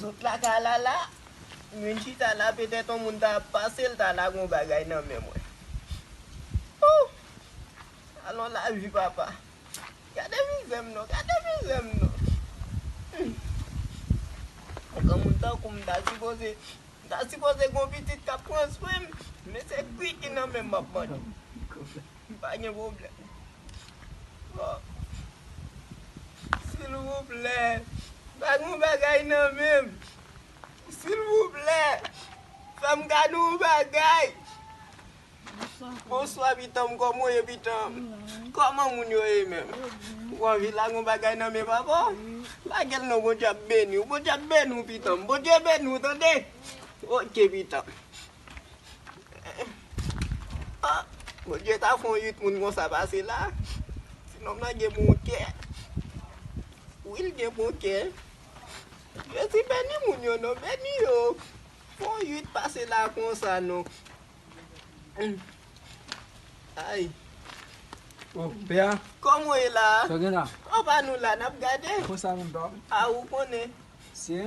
Zot la ka la la, mwen chita la petèt yon moun ta ap pase l ta lage yon bagay nan men mwen. Ooh! Alon lavi papa. Gade mizè m non, gade mizè m non. Yon granmoun tankou m m ta sipoze, m ta sipoze gen yon pitit k ap pran swen m, men se bgy ki nan men m m ap mande. M pa gen pwoblèm. Silvouplè bag yon bagay nan menm silvouplè fèm gad yon bagay bonswa pitanm kòman ou ye pitanm kòman moun yo ye menm ou anvi lage yon bagay nan men papa lagel non bondye ap beniw bondye ap beniw pitanm bondye beniw tande ok pitanm. Bondye ta fon 8 moun konsa pase la Ti nonm nan gen bon kè Wi l gen bon kè Jezi beni moun yo non beni yo Fon 8 pase la konsa non Ayy Oh pè a Kòman w ye la Sa w gen la Ou pa nou la nap gade Konsa menm pa w A ou konnen Se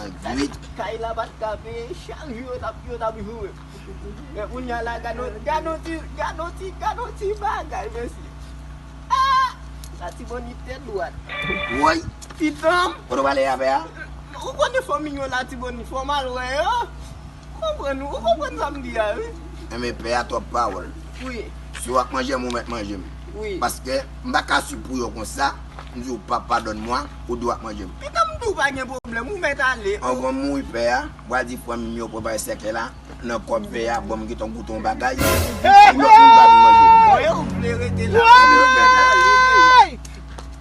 an gwid. Kay la pat ka peye chak jou yo tap yo tap joure men kounya la gadon gadon ti gadon ti gadon ti bagay mesye aah latibonit tèt dwat. Woy pitanm kote w ale avè a. Ou konnen fanmi yo latibonit fòm al wè yo. Konprann ou konprann sa m di a wi. Enben pè a twòp pawòl. Wi. Si w ap manje m ou mèt manje m. Wi. Paske m pa ka swiv pou yo konsa, m di w pa padòn mwa, ou di w ap manje m. Etan m di w pa gen pwoblèm ou mèt ale. Anvan m mouri pè a pral di frè m yo prepare sèkèy la nan kò pè a bon m gen tan goute yon bagay pou lòt moun pa vin manje m. Mwen ou vle rete la. Mwen ou mèt ale.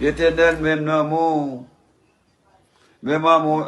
Etènèl menm nan mou. Menm an mou.